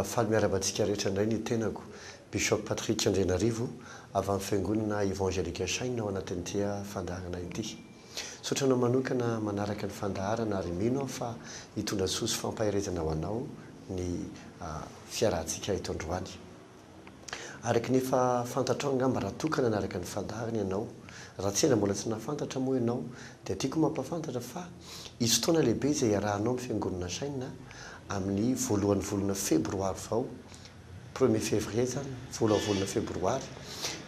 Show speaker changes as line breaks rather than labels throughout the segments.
faly miarahaba antsika rehetra indray ny tenako Bishop Patrick Andrianarivo avy amin'ny fiangonana Evangelique Shine ao anatin'ity fandaharana ity. Misaotra anao manokana manaraka ny fandaharana ary mino aho fa hitondra soa sy fampaherezana ho anao ny fiarahantsika eto androany. Araka ny efa fantatrao angamba raha toa ka nanaraka ny fandaharana ianao, raha tsy ela mbola tsy nahafantatra moa ianao dia tiako mampahafantatra fa hisy fotoana lehibe izay hiarahanao amin'ny Fiangonana Shine amin'ny voalohan'ny volana febroary vao, premier février izany, voalohan'ny volana febroary,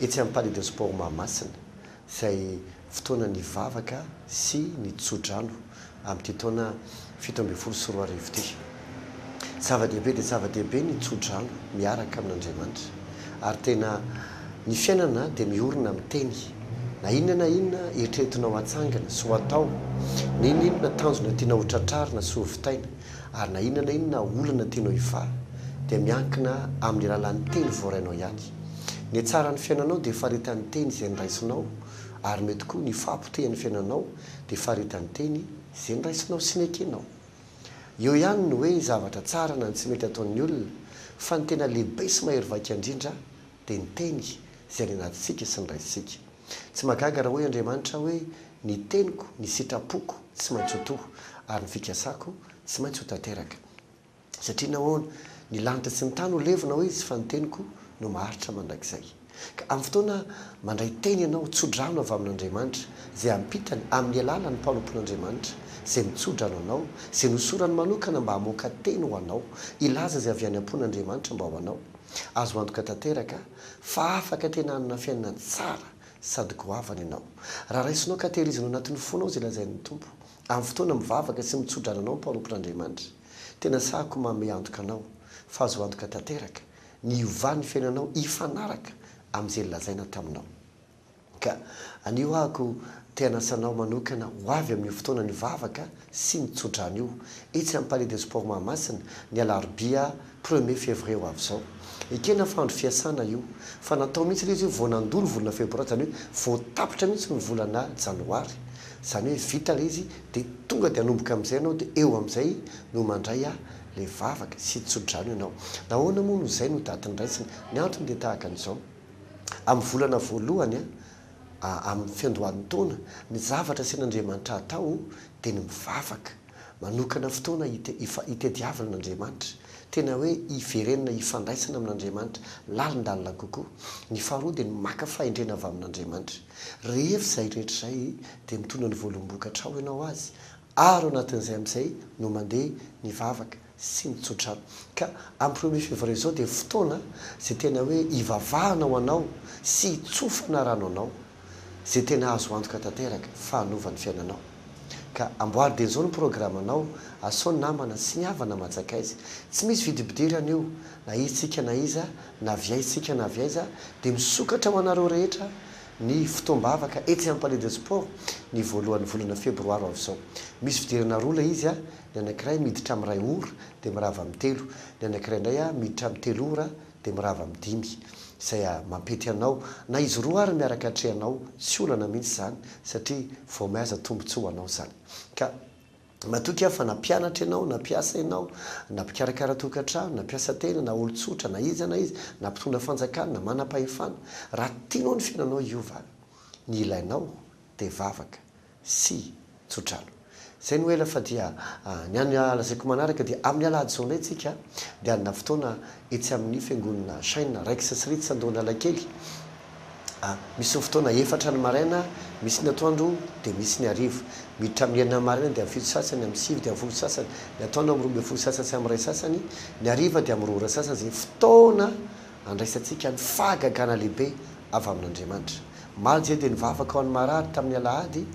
etsy amin'ny Palais de Sport Mahamasina. izay fotoana nivavaka sy ny tso-drano amin'ity taona fito ambin'ny folo sy roa arivo ity. Zava-dehibe dia zava-dehibe ny tso-drano miaraka amin'Andriamanitra, ary tena ny fiainana dia miorina amin'ny teny, na inona na inona eritreretinao hatsangana sy ho atao, n'inon'inona tanjona tianao ho tratrarina sy ho vitaina, Ary na inona na inona olana tianao hifaly dia miankina amin'ny alalan'ny teny voarainao ihany. Ny hatsaran'ny fiainanao dia faritan'ny teny izay noraisinao ary mety koa ny fahapotehan'ny fiainanao dia faritan'ny teny izay noraisinao sy nekenao. Eo ihany ny hoe zavatra tsara na ny tsy mety ataon'ny olona fa ny tena lehibe sy mahery vaika indrindra dia ny Teny izay any anatintsika sy ny Raintsika. Tsy mahagaga raha hoy Andriamanitra hoe, Ny teniko, ny sitrapoko tsy maintsy ho toho, ary ny fikasako tsy maintsy ho tanteraka. Satria nahoana? Ny lanitra sy ny tany ho levona, hoy Izy, fa ny teniko no maharitra mandrakizay. Ka amin'ny fotoana mandray Teny ianao, tso-drano avy amin'Andriamanitra, izay ampitany amin'ny alalan'ny mpanompon'Andriamanitra, izay mitso-drano anao, izay nosorany manokana mba hamoaka Teny ho anao, hilaza izay avy any am-pon'Andriamanitra mba ho anao. Azo antoka tanteraka fa afaka tena hanana fiainana tsara sady goavana ianao, raha raisinao ka tehirizina ao anatin'ny fonao izay lazain'ny Tompo, amin'ny fotoana mivavaka sy mitso-drano anao mpanompon'Andriamanitra. Tena sahako manome antoka anao fa azo antoka tanteraka ny hiovan'ny fiainanao hifanaraka amin'izay nolazaina taminao. Ka anio ahako te hanasa anao manokana ho avy amin'io fotoana nivavaka sy ny tsodrano io, etsy amin'ny Palais des Sports Mahamasina, ny alarobia premier février ho avy izao. Ekena fa andro fiasana io, fa natao mihitsy ilay izy hoe vao nandoa ny volana febroary, izany hoe vao tapitra mihitsy ny volana janoary, izany hoe vita ilay izy dia tonga dia hanomboka amin'izay ianao dia eo amin'izay no mandray ilay vavaka sy tsodrano ianao. Nahoana moa no izay no daty niraisina? Ny antony dia tahaka an'izao. amin'ny volana voalohany amin'ny fiandohan'ny taona, ny zavatra asian'Andriamanitra atao dia ny mivavaka, manokana fotoana hitadiavana an'Andriamanitra, tena hoe hiverenana hifandraisana amin'Andriamanitra lalindalina kokoa. Ny faharoa dia ny maka fahendrena avy amin'Andriamanitra. Rehefa izay rehetra izay dia mitondra ny voalombokatra ao ianao azy ary ao anatin'izay amin'izay no mandeha ny vavaka. sy ny tsotra. Ka amin'ny premier février izao dia fotoana izay tena hoe hivavahana ho anao sy hitsofana rano anao izay tena azo antoka tanteraka fa hanova ny fiainanao. Ka amboary dia izao ny programanao, asao ny namana sy ny havana aman-tsakaiza. Tsy misy vidibidirana io, na iza-tsika na iza, na avy aiza-tsika na avy aiza, dia misokatra ho anareo rehetra ny fotoam-bavaka etsy Palais de Sport ny voalohan'ny volana febroaro avy izao. Misy fidirana roa ilay izy, Ny anankiray miditra amin'ny iray ora dia mirava amin'ny telo, ny anankiray indray miditra amin'ny telo ora dia mirava amin'ny dimy. Izay mampety anao, na izy roa ary miaraka atrehanao, tsy olana mihitsy izany satria vao may aza tombontsoa ho anao izany. Ka matoky aho fa na mpianatra ianao, na mpiasa ianao, na mpikarakara tokantrano, na mpiasa tena, na olon-tsotra, na iza na iza, na mpitondra fanjakana, na manam-pahefana, raha tianao ny fiainanao hiova, ny ilainao dia vavaka. sy tsodrano. Izay no ela fa dia ny an'ny lazaiko manaraka dia amin'ny alahady izao indray tsika dia hanana fotoana etsy amin'ny fiangonana Shine Rex sy Rits Andohanalakely misy ny fotoana efatra ny maraina misy ny atoandro dia misy ny hariva miditra amin'ny enina ny maraina dia amin'ny fito sasany amin'ny sivy dia amin'ny folo sasany ny atoandro amin'ny roa ambin'ny folo sasany sy amin'ny iray sasany ny hariva dia amin'ny roa ora sasany izay fotoana Andraisantsika ny fahagagana lehibe avy amin'Andriamanitra. Omaly dia nivavaka ho an'ny marary tamin'ny alahady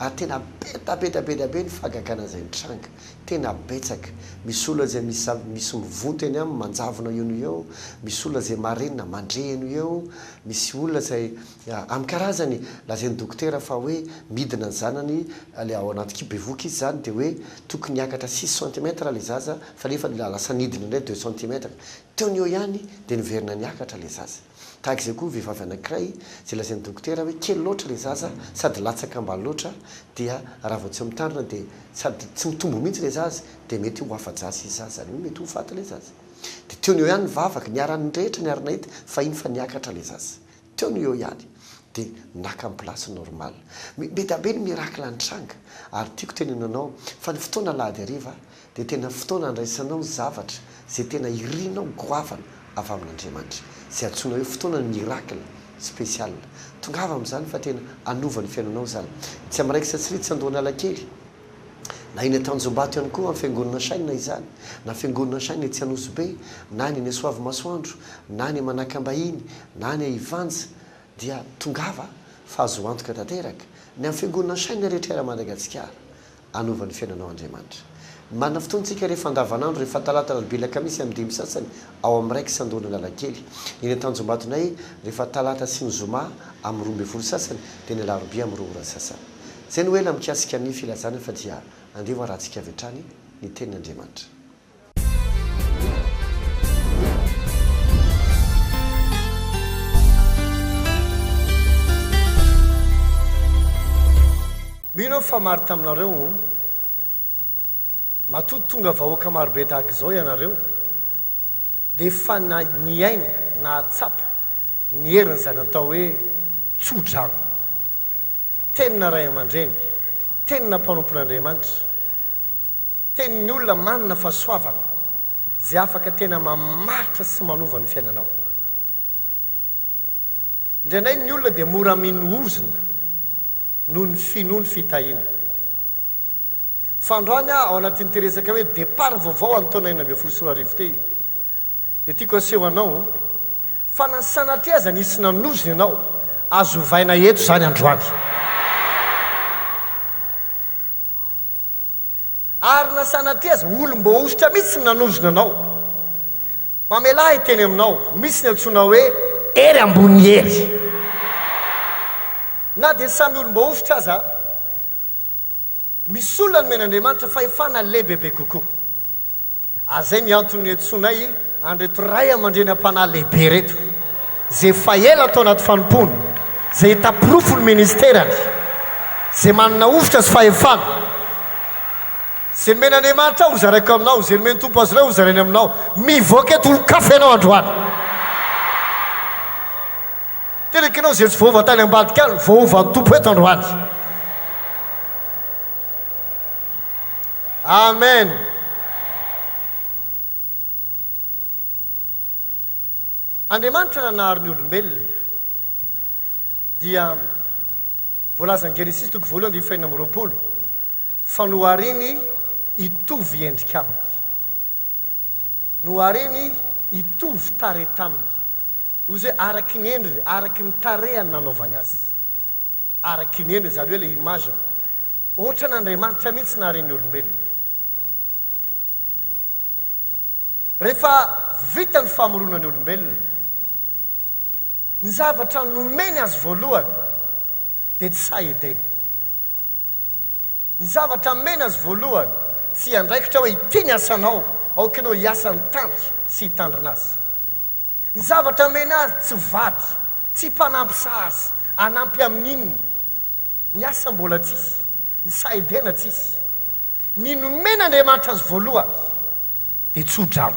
ary tena be da be da be da be ny fahagagana izay nitranga. Tena betsaka. Misy olona izay misy misy mivonto eny aminy manjavona eo no eo, misy olona izay marenina mandre eny ho eo, misy olona izay amin'ny karazany lazain'ny dokotera fa hoe midina ny zanany ilay ao anaty kibo bevohoka izy izany dia hoe tokony hiakatra six centimètres ilay zaza fa nefa lasa nidina indray deux centimètres. Teo ny eo ihany dia niverina niakatra ilay zaza. Tahaka izay koa vehivavy anankiray izay lazain'ny dokotera hoe kely loatra ilay zaza sady latsaka ambany loatra dia raha vao tsy mitandrina dia sady tsy mitombo mihitsy ilay zaza dia mety ho afa-jaza izy zaza izany hoe mety ho faty ilay zaza. Dia teo ny eo ihany ny vavaka, niharan'ny rehetra, niara-nahita fa iny fa niakatra ilay zaza. Teo no eo ihany dia naka ny place normal. Bedabe ny miracle nitranga ary tiako teneno anao fa ny fotoana alahady hariva dia tena fotoana andraisanao zavatra izay tena irinao goavana avy amin'Andriamanitra izay antsoina hoe fotoanan'ny miracle special. Tongava amin'izany fa tena hanova ny fiainanao izany. Tsy amin'raikitra sy ritra andohan'Alakely. Na eny Tanjombato ihany koa amin'ny Fiangonana Shine na izany, na Fiangonana Shine etsy Anosibe, na ny eny Soavimasoandro, na ny Manakambahiny, na ny Ivanja, dia tongava fa azo antoka tanteraka ny amin'ny Fiangonana Shine rehetra eran'i Madagasikara. Hanova ny fiainanao Andriamanitra. Marina fotoana isika rehefa andavanandro, rehefa talata, alarobia, alakamisy amin'ny dimy sasany ao amin'ny raik'i Sandoana Analakely. Ny eny Tanjombatonay rehefa talata sy ny zoma amin'ny roa ambin'ny folo sasany dia ny alarobia amin'ny roa ora sasany. Izay no ela mikasika ny filazana fa dia andeha ho arantsika avy hatrany ny tenin' Andriamanitra.
Mino aho fa maro taminareo no matoa tonga vahoaka marobe tahaka izao ianareo dia efa niaina, nahatsapa ny herin' izay natao hoe tso-drano. Tenina ray aman-dreny, tenina mpanompon'Andriamanitra, tenin'ny olona manana fahasoavana, izay afaka tena mamaritra sy manova ny fiainanao. Indraindray ny olona dia mora mino ozona noho ny finoany fitahiana. Fa androany aho, ao anatin'ity resaka hoe départ vaovao an'ny taona enina ambin'ny folo sy roa arivo ity, Dia tiako aseho anao fa na sanatria aza nisy nanozona ianao, azo ovaina eto izany androany. Ary na sanatria aza olom-boahosotra mihitsy no nanozona anao, mamelà ahy hiteny aminao, misy ny antsoina hoe hery ambony hery. Na dia samy olom-boahosotra aza, misy olona nomen'Andriamanitra fahefana lehibebe kokoa. Ary zay ny antony niantsoanay an'ireto ray aman-dreny am-panahy lehibe ireto, izay efa ela tao anaty fanompoana, izay hita porofo ny ministerany, izay manana hovitra sy fahefana. Izay nomen'Andriamanitra ahy hozaraiko aminao, izay nomen'ny Tompo azy ireo hozarainy aminao. Mivoaka eto olon-kafa ianao androany. Tena ekenao izay tsy voaova tany ambadika any, voaovan'ny Tompo eto androany. Amen! Andriamanitra nanary ny olombelona dia voalazan'i Genesisy toko voalohany andininy fahenina amby roapolo fa nohariny hitovy endrika aminy, nohariny hitovy tarehy taminy, hoy izy hoe araky ny endriny, araky ny tarehiny nanaovany azy. Ary kiniany ry zareo ilay image-ny. Ohatran' Andriamanitra mihitsy nahare ny olombelona. Rehefa vita ny famorona ny olombelona, ny zavatra nomeny azy voalohany dia tsy sahy edena. Ny zavatra nomeny azy voalohany tsy andraikitra hoe ity ny asanao, aoka ianao hiasa ny tany sy hitandrina azy. Ny zavatra amena azy, tsy vady, tsy mpanampy sazy, hanampy amin'ny inona? Ny asa mbola tsisy, ny sahedena tsisy. Ny nomen'Andriamanitra azy voalohany dia tso-drano.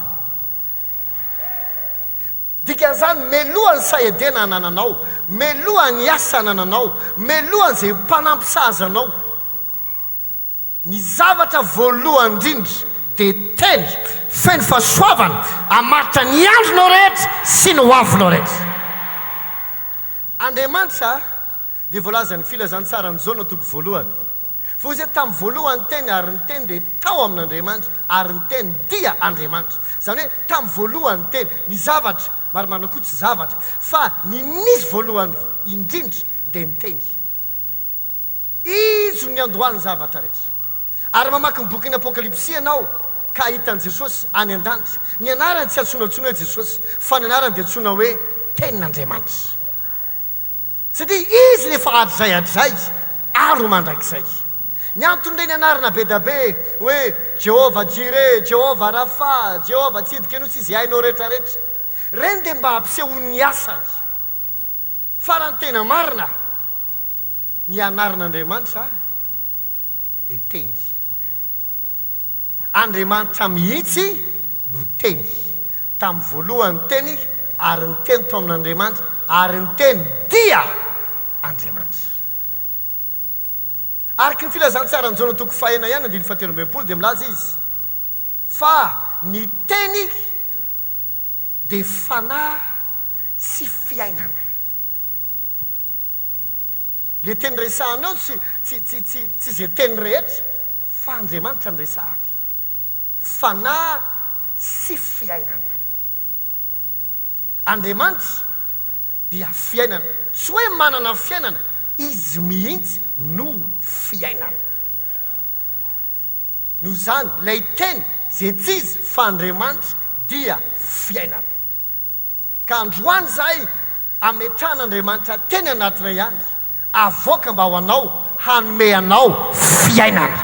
Dikan'izany, meloha ny sahedena anananao, meloha ny asa anananao, meloha izay mpanampy sazy anao. Ny zavatra voalohany indrindra dia teny feno fahasoavana hamaritra ny andronao rehetra sy ny hoavinao rehetra. Andriamanitra dia voalazan'ny Filazantsaran'i Jaona toko voalohany fa hoy izy hoe tamin'ny voalohany ny Teny ary ny Teny dia tao amin'Andriamanitra ary ny Teny dia Andriamanitra. Izany hoe tamin'ny voalohany ny Teny. Ny zavatra marimarina koa tsy zavatra fa ny nisy voalohany indrindra dia ny Teny. Izy no niandohan'ny zavatra rehetra. Ary mamaky ny bokin'ny Apokalypsy ianao ka hahita an'i Jesosy any an-danitra. Ny anarany tsy antsoina intsony hoe Jesosy, fa ny anarany dia antsoina hoe Tenin'Andriamanitra. Satria Izy ilay fahatrizay hatrizay ary ho mandrakizay. Ny anton'ireny anarana be dia be hoe Jehovah Jireh, Jehovah Rapha, Jehovah Tsidkenu sy izay hainao rehetrarehetra ireny dia mba hampisehoany ny asany. Farany tena marina, ny anaran'Andriamanitra dia Teny. Andriamanitra mihitsy no Teny. Tamin'ny voalohany ny Teny, ary ny Teny tao amin'Andriamanitra, ary ny Teny dia Andriamanitra. Araka ny Filazantsaran'i Jaona toko fahenina ihany andininy fahatelo ambin'ny folo dia milaza izy fa ny Teny, Dia fanahy sy fiainana. Ilay teny resahana ao tsy tsy tsy tsy tsy izay teny rehetra fa Andriamanitra no resahany. Fanahy sy fiainana. Andriamanitra dia fiainana. Tsy hoe manana fiainana, Izy mihitsy no fiainana. Noho izany, ilay Teny, izay tsy iza fa Andriamanitra, dia fiainana. Ka androany izahay ametrahan'Andriamanitra teny anatinay ihany, avoaka mba ho anao, hanome anao fiainana.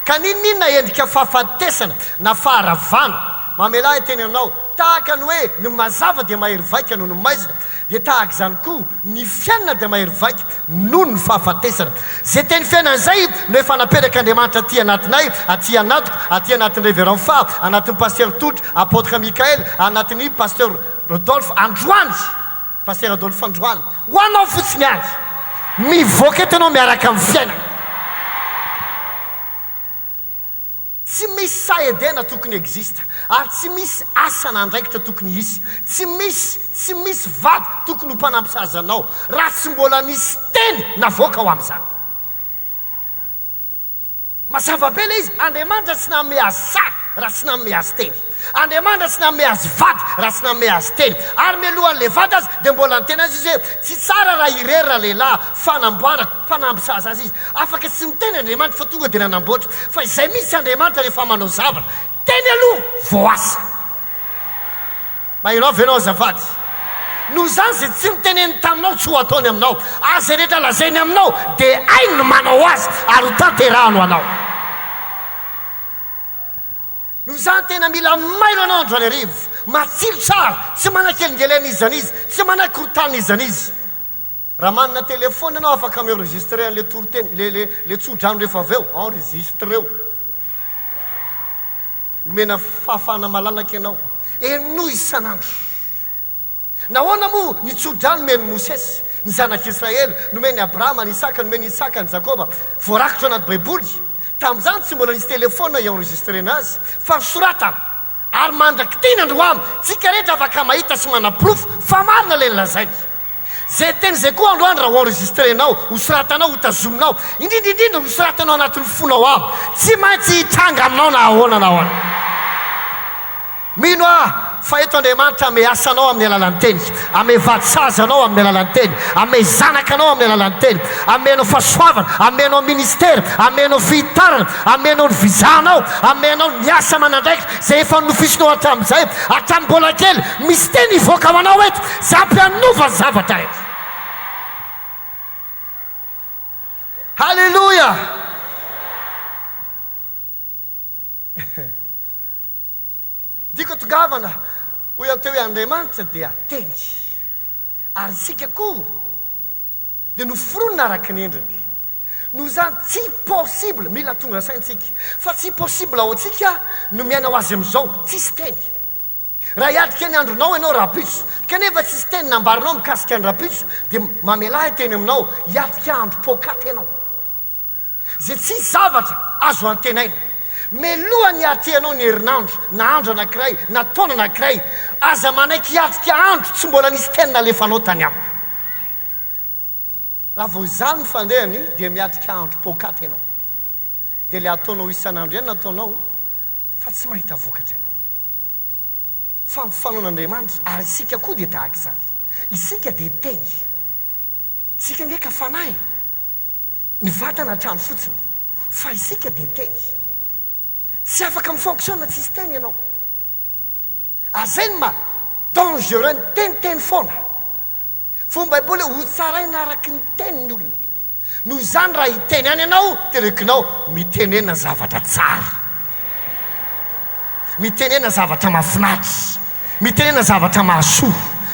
Ka n'inon'inona endrika fahafatesana na faharavana mamelà ahy teny anao, tahaka ny hoe ny mazava dia mahery vaika noho ny maizina, dia tahaka izany koa, Ny fiainana dia mahery vaika noho ny fahafatesana. Izay teny fiainana izay no efa naperak' Andriamanitra aty anatinay, aty anatiko, aty anatin'ny Reverend Faha, anatin'ny Pasitera Tody, Apotre Mickael, anatin'ny Pasteur Rodolphe androany, Pasitera Adolphe androany. Ho anao fotsiny ary. Mivoaka eto ianao miaraka amin'ny fiainana. Tsy misy saha Edena tokony existe ary tsy misy asa na andraikitra tokony hisy. Tsy misy, tsy misy vady tokony ho mpanampy sazy anao raha tsy mbola nisy teny navoaka ho amin'izany. Mazava be ilay izy, Andriamanitra tsy nanome azy saha raha tsy nanome azy teny. Andriamanitra tsy nanome azy vady raha tsy nanome azy tena. Ary mialoha an'ilay vady aza dia mbola niteny azy izy hoe, Tsy tsara raha irery ralehilahy, fanamboara, fa nampisaza azy izy. Afaka tsy miteny Andriamanitra fa tonga dia nanamboatra. Fa izay mihitsy Andriamanitra rehefa manao zavatra. Teny aloha vao asa. Maherao ve ianao azafady? Noho izany izay tsy noteneniny taminao tsy ho ataony aminao, ary izay rehetra lazainy aminao dia hainy ny manao azy ary ho tanterahany ho anao. Noho izany, tena mila mailo anao andro an'arivo, matsilo tsara, tsy manakelingelena iza n'iza, tsy manakorontana iza n'iza. Raha manana telephone ianao afaka mi-enregistrer an'ilay toriteny, le, le, le tsodrano rehefa avy eo, enregistreo. Omena fahafahana malalaka ianao. Henoy isan'andro. Nahoana moa ny tso-drano nomen'i Mosesy ny zanak'Israely, nomen'i Abrahama an'i Isaka, nomen'i Isaka an'i Jakoba, voarakitra ao anaty Baiboly? Tamin'izany tsy mbola nisy telefaonina hi-enregistrena azy, fa ny soratana. Ary mandrak'tina androany, tsika rehetra afaka mahita sy manaporofo fa marina ilay nolazainy. Izay teny izay koa androany raha ho-enregistrenao, hosoratanao, hotazominao, indrindra indrindra hosoratanao anatin'ny fonao ao, tsy maintsy hitranga aminao na ahoana na ahoana. Mino aho fa eto Andriamanitra hame asa anao amin'ny alalan'ny Teniny, hame vady sazy anao amin'ny alalan'ny Teny, hame zanaka anao amin'ny alalan'ny Teny, hame anao fahasoavana, hame anao ministera, hame anao fihitarana, hame anao ny visa anao, hame anao ny asa aman'andraikitra izay efa nofisinao hatramin'izay, hatramin'ny mbola kely, misy Teny hivoaka ho anao eto izay ampy hanova zavatra eto. Haleloia! Diko tongavana, hoy aho teo hoe Andriamanitra dia Teny, ary isika koa dia noforonina araka ny endriny. Noho izany, tsy possible, mila tonga saintsika, fa tsy possible ho antsika no miaina ho azy amin'izao, tsisy Teny. Raha hiatrika ny andronao ianao rahampitso, kanefa tsisy Teny nambarinao mikasika ny rahampitso, dia mamelà ahy teny aminao, hiatrika andro poakaty ianao. Izay tsisy zavatra azo antenaina. Meloha ny hahatrea anao ny herinandro, na andro anankiray, na taona anankiray. Aza manaiky hiatrika andro tsy mbola nisy teny nalefanao tany amiko. Raha vao izany ny fandehany, dia miatrika andro poakaty ianao. Dia ilay ataonao isan'andro ihany no ataonao, fa tsy mahita vokatra ianao. Fantofanao an'Andriamanitra, ary isika koa dia tahaka izany. Isika dia Teny. Isika ange ka Fanahy. Ny vatana hatrany fotsiny, fa isika dia teny. Tsy afaka mi-fonctionne tsisy teny ianao. Ary izay no maha dangereux ny teny, teny foana. Fa hoy ny Baiboly hoe, Hotsaraina araka ny teny ny olona. Noho izany raha hiteny ihany ianao, terekinao, mitenena zavatra tsara. Mitenena zavatra mahafinaritra, mitenena zavatra mahasoa,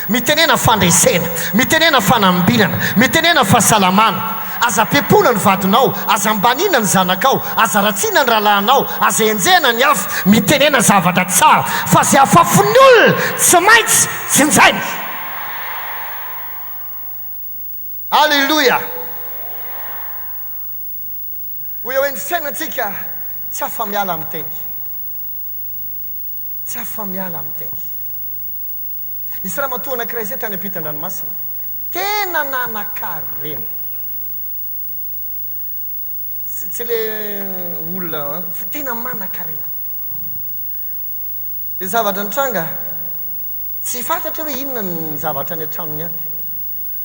mitenena fandresena, mitenena fanambinana, mitenena fahasalamana. Aza pepona ny vadinao, aza ambaniana ny zanakao, aza ratsiana ny rahalahinao, aza enjehina ny hafa. Mitenena zavatra tsara, fa izay afafon'ny olona tsy maintsy jinjaina. Aleloia! Hoy aho hoe ny fiainantsika tsy afa-miala amin'ny teny. Tsy afa-miala amin'ny teny. Nisy ramatoa anankiray izay tany ampitan-dranomasina, tena nanan-karena. Tsy, tsy ilay olona an, fa tena manan-karena. Dia zavatra nitranga, tsy fantatra hoe inona ny zavatra any an-tranony any,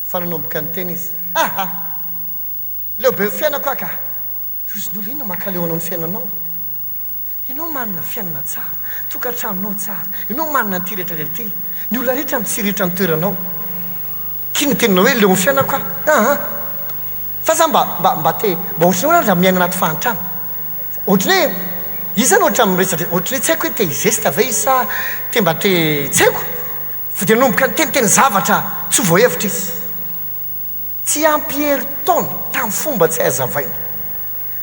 fa nanomboka niteny izy, Aha! Leo be ny fiainako aho ka. Tohizin'olo inona mankaleo anao ny fiainanao? Ianao manana fiainana tsara, tokantranonao tsara, ianao manana an'ity rehetra rehetra ity, ny olona rehetra mitsiritra ny toeranao. K'inona no tenenao hoe leo ny fiainako aho? Aa! Fa za mba, mba, mba te, mba ohatran'ny hoe raha miaina anaty fahantrana. Ohatran'ny hoe, izy zany ohatra miresadresaka, ohatran'ny hoe tsy haiko hoe te hi-geste ve izy sa te mba te, tsy haiko. Fa dia nanomboka niteniteny zavatra tsy ho voahevitra izy. Tsy ampy herintaona tamin'ny fomba tsy hazavaina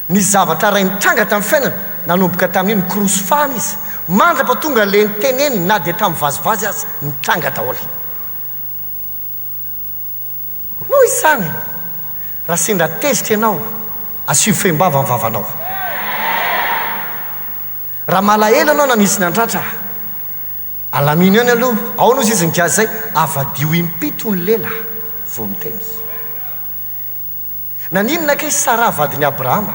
ny zavatra raha nitranga tamin'ny fiainany nanomboka tamin'iny korosy fahana izy mandrapa tonga le niteneniny na dia tamin'ny vazivazy aza nitranga daholo noho izany raha sendra tezitra ianao asio fehim-bava ny vavanao raha malahelo ianao na misy nandratra Alamino eo ny aloha, ao no sisin'ny gasy zay, avadiho impito ny lela vao miteny. Naninona kay Sarah vadin'i Abrahama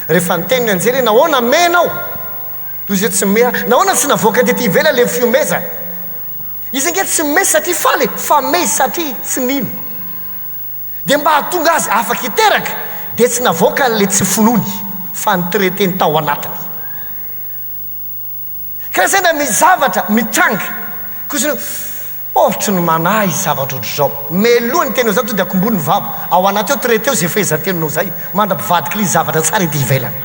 rehefa niteny ny anjely hoe nahoana mey ianao toy izay tsy mey ahy? Nahoana tsy navoaka tety ivelany ilay fiomezana? Izy ange tsy mey satria faly e, fa mey satria tsy nino. Dia mba hahatonga azy afaka hiteraka dia tsy navoakany ilay tsy finoany fa nitraiteny tao anatiny. Ka izay na misy zavatra mitranga kosa hoe ohatry ny manahy izy zavatra ohatry izao. Meloha ny teny ao zany to dia akombony ny vava ao anaty ao traiter ao izay fehezan-teninao izay mandra-pivadika ilay izy zavatra tsara ety ivelany.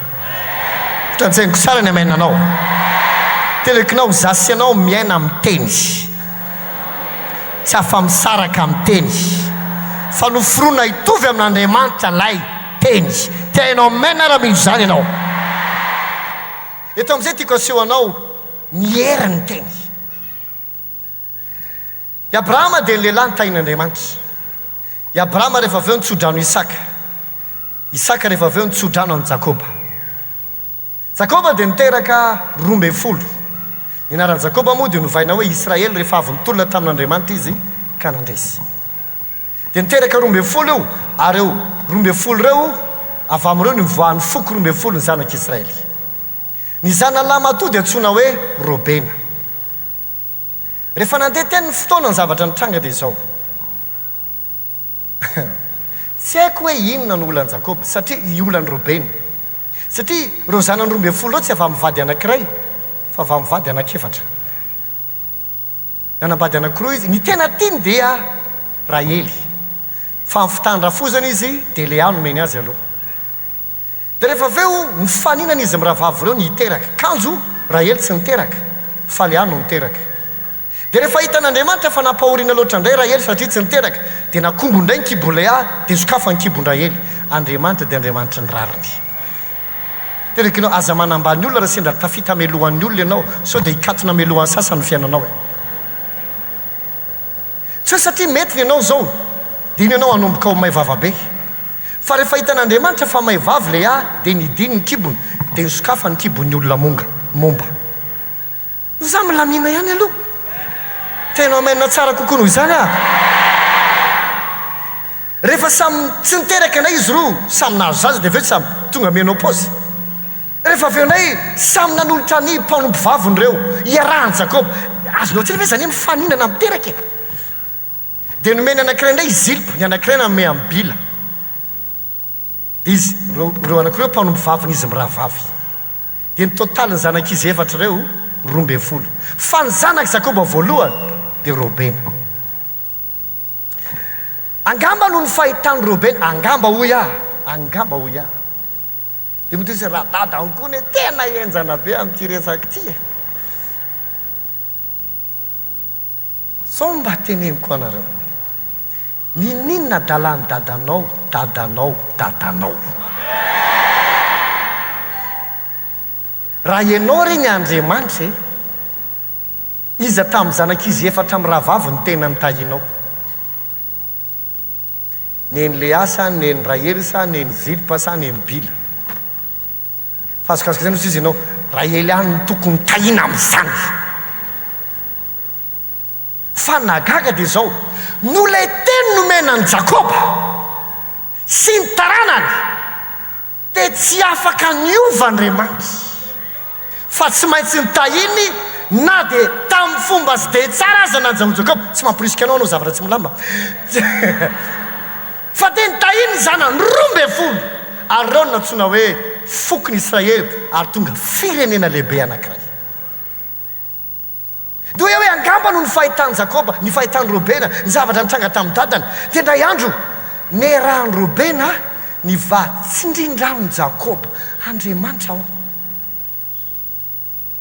Fitantsainiko tsara ny amen anao. Telekinao za sy ianao miaina amin'ny teny. Tsy afa-misaraka amin'ny teny. Fa noforonina hitovy amin'Andriamanitra ilay teny. Te hainao amen ara mino izany ianao. Eto amin'izay tiako aseho anao ny herin'ny teny. I Abrahama dia ny lehilahy nitahin'Andriamanitra. I Abrahama rehefa avy eo ny tsodrano Isaka. Isaka rehefa avy eo ny tsodrano an'i Jakoba. Jakoba dia niteraka roa ambin'ny folo. Ny anaran'i Jakoba moa dia novaina hoe Israely rehefa avy nitolona tamin'Andriamanitra izy ka nandresy. Dia niteraka roa ambin'ny folo io, ary eo roa ambin'ny folo ireo, avy amin'ireo nivoahan'ny foko roa ambin'ny folon'ny zanak'Israely. Ny zanalahy matoa dia antsoina hoe Robena. Rehefa nandeha teny ny fotoana, ny zavatra nitranga dia izao. Tsy haiko hoe inona no olan'i Jakoba, satria, i, olan'i Robena. Satria ireo zanany roa ambin'ny folo ireo tsy avy amin'ny vady anankiray, fa avy amin'ny vady anankiefatra. Nanambady anankiroa izy, ny tena tiany dia Rahely, fa amin'ny fitandràfozana izy dia Lea nomeny azy aloha. Dia rehefa avy eo nifaninana izy mirahavavy ireo ny hiteraka, kanjo Rahely tsy niteraka, fa Lea no niteraka. Dia rehefa hitan'Andriamanitra fa nampahoriana loatra indray Rahely satria tsy niteraka, dia nakombo indray ny kibon'i Lea, dia sokafan'ny kibon-dRahely. Andriamanitra dia Andriamanitry ny rariny. Terekino aza manambany olona raha sendra tafita hamelohan'ny olona ianao sao dia hikatona hamelohan'ny sasany ny fiainanao e. Tsy hoe satria mety ny anao izao dia iny ianao hanomboka ho may vava be. Fa rehefa hitan'Andriamanitra fa may vava ilay ahy dia nidiny ny kibony dia nisokafany ny kibon'ny olona monga, momba. Izaho milamina ihany aloha. Feno amen tsara kokoa noho izany aho. Rehefa samy tsy niteraka anay izy roa, samy nahazo zaza dia avy eo samy tonga menopause. Rehefa avy eo indray samy nanolotra ny mpanompo vaviny ireo iarahan'i Jakoba. Azonao atsaina ve izany hoe mifaninana miteraka e? Dia nomeny anankiray indray i Zilpa, ny anankiray nanome an'i Bila. Izy, ireo, ireo anako ireo mpanompo vavin'izy mirahavavy. Dia ny totalin'ny zanak'izy efatra ireo, roa ambin'ny folo. Fa ny zanak'i Jakoba voalohany dia Robena. Angamba noho ny fahitan'i Robena, angamba hoy aho, angamba hoy aho. Dia mody hoy izy, Radada ankoho anie tena henjana be amin'ity resaka ity e! Sao mba teneniko anareo. Ninoninona adalan'i dadanao, dadanao, dadanao. Raha ianao re ny Andriamanitra e, iza tamin'ny zanak'izy efatra mirahavavy no tena nitahianao? Neny Léa sa neny Rahely sa neny Zilpa sa neny Bila? Fa azokazoko izay no tsy izy ianao, Rahely ihany no tokony nitahiana amin'izany. Fa ny nahagaga dia izao, noho ilay teny nomena an'i Jakoba sy ny taranany, dia tsy afaka niova Andriamanitra, fa tsy maintsy notahiny na dia tamin'ny fomba tsy dia tsara aza na Jakoba, Jakoba, tsy mamporisika anao ianao zavatra tsy milamina, fa dia notahiny ny zanany roa ambin'ny folo ary ireo no nantsoina hoe fokon'Israely ary tonga firenena lehibe anankiray. Dia hoe angamba noho ny fahitan'i Jakoba, ny fahitan'i Robena, ny zavatra nitranga tamin'ny dadany, dia indray andro niarahan'i Robena nivady tsindrindra amin'i Jakoba Andriamanitra ao.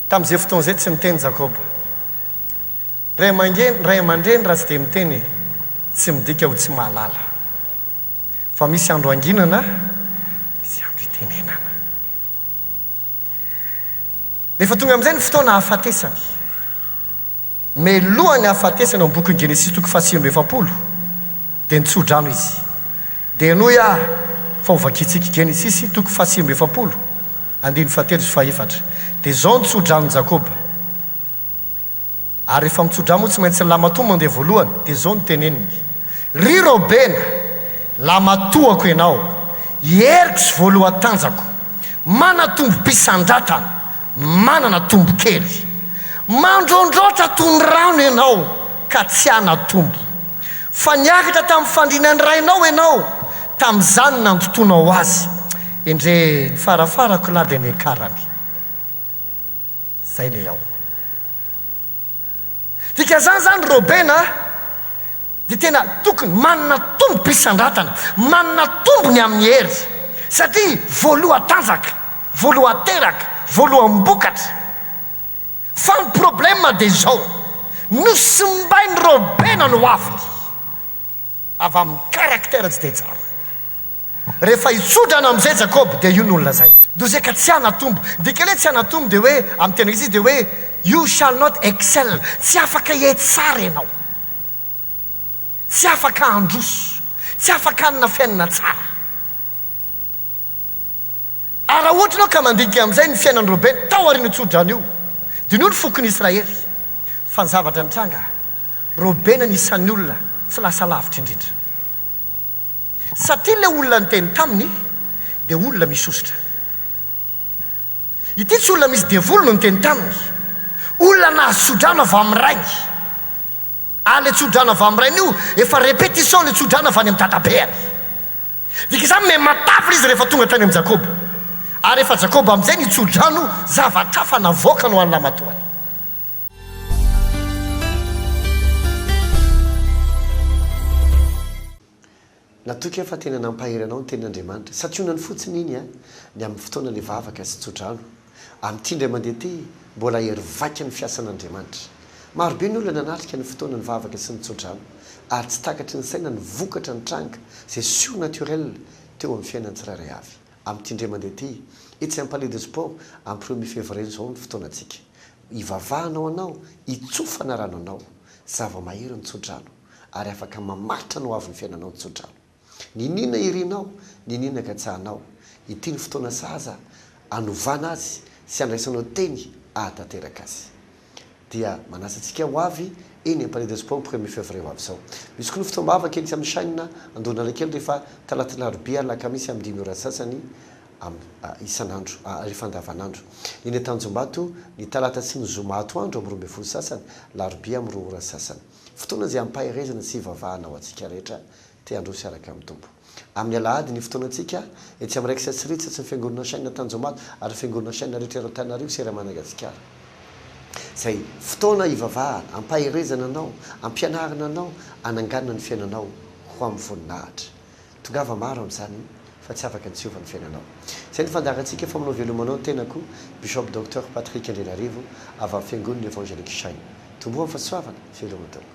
Tamin'izay fotoana izay tsy niteny Jakoba. Ray aman-geny, ray aman-dreny raha tsy dia miteny e, tsy midika ho tsy mahalala. Fa misy andro hanginana, misy andro hitenenana. Rehefa tonga amin'izay ny fotoana hahafatesany. Melohan'ny hahafatesany ao amin'ny bokin'i Genesisy toko fahasivy amby efapolo dia nitsodrano izy. Dia henoy aho fa ho vakintsika. Genesisy toko fahasivy amby efapolo, andininy fahatelo sy fahaefatra. Dia izao nitsodrano Jakoba. Ary rehefa mitso-drà moa tsy maintsy ny lamatoa mandeha voalohany, dia izao no teneniny, Ry Robena, lamatoako ianao, i heriko sy voalohan-tanjako, manatombom-pisandratana, manana tombokely. Mandrondroatra toy ny rano ianao ka tsy hanatombo. Fa niakatra tamin'ny fandriana ny rainao ianao, tamin'izany nandotoanao azy. Endrey, ny farafarako lahy dia niakarany. Zay le ao. Dikan'izany zany Robin a, dia tena tokony manana tombom-pisandratana, manana tombony amin'ny hery, satria voalohan-tanjaka, voalohan-teraka, voalohan-bokatra. Fa ny problème dia izao, nosimbain'i Robin ny hoaviny. avy amin'ny caractère tsy dia tsara. Rehefa hitsodrana amin'izay Jakoba dia io no nolazainy. Dose ka tsy hanatombo. Ny dikany hoe tsy hanatombo dia hoe, amin'ny teny Grizy dia hoe you shall not excel, tsy afaka hiaiky tsara ianao. Tsy afaka handroso. Tsy afaka hanana fiainana tsara. Ary raha ohatra ianao ka mandinika amin'izay ny fiainan'i Robena tao aorian'io tsodrano io, diniho ny fokon'i Israely fa ny zavatra nitranga, Robena no isan'ny olona tsy lasa lavitra indrindra. Satria ilay olona niteny taminy dia olona misy hosotra. Ity tsy olona misy devoly no niteny taminy, olona nahazo tsodrano avy amin'ny rainy. Ary ilay tsodrano avy amin'ny rainy io, efa répétition ilay tsodrano avy any amin'ny dadabeany. Dika izany hoe matavy izy rehefa tonga tany amin'i Jakoba. Ary rehefa Jakoba amin'izay ny tso-drano, zavatra hafa navoakany ho an'ny lamatoany.
Natoky aho fa tena nampahery anao ny tenin'Andriamanitra. Santionany fotsiny iny an, ny amin'ny fotoana ilay vavaka sy tso-drano. Amin'ity indray mandeha ity, mbola hery vaika ny fiasan'Andriamanitra. Marobe ny olona nanatrika ny fotoana nivavaka sy ny tso-drano, ary tsy takatry ny saina ny vokatra nitranga, izay surnaturel, teo amin'ny fiainan'ny tsirairay avy. Amin'ity indray mandeha ity, etsy amin'ny Palais de Sport, amin'ny premier février izao ny fotoanantsika. Hivavahana ho anao, hitsofana rano anao. Zava-mahery ny tso-drano, ary afaka mamaritra ny hoavin'ny fiainanao ny tso-drano. Niniana irinao, niniana katsahanao. Ity ny fotoana sahaza anovana azy sy andraisanao teny ahatanteraka azy. Dia manasa antsika ho avy eny Palais de Sport premier février ho avy izao. Misy koa ny fotoam-bavaka etsy amin'ny chaine Andohanalakely rehefa Talata Alarobia Alakamisy amin'ny dimy ora sasany amin'ny isan'andro, rehefa andavanandro. Eny Antanjombato ny Talata sy ny Zoma atoandro amin'ny roa ambin'ny folo sasany, Alarobia amin'ny roa ora sasany. Fotoana izay hampaherezana sy hivavahana ho antsika rehetra. te handroso hiaraka amin'ny Tompo. Amin'ny Alahady ny fotoanantsika, etsy amin'ny Rex Atsiriry, tsatsy ny Fiangonana Shine Antanjombato ary ny Fiangonana Shine rehetra ery Antananarivo sy ery Managasikara. Izay fotoana hivavahana, hampaherezana anao, hampianarana anao, hananganana ny fiainanao ho amin'ny voninahitra. Tongava maro amin'izany fa tsy afaka ny tsy hiova ny fiainanao. Izay ny fandaharantsika fa manao velomanao ny tenako, Bishop Docteur Patrick Andrianarivo avy amin'ny Fiangonana Evangelique Shine. Tomboa amin'ny fahasoavana, veloma tompoko.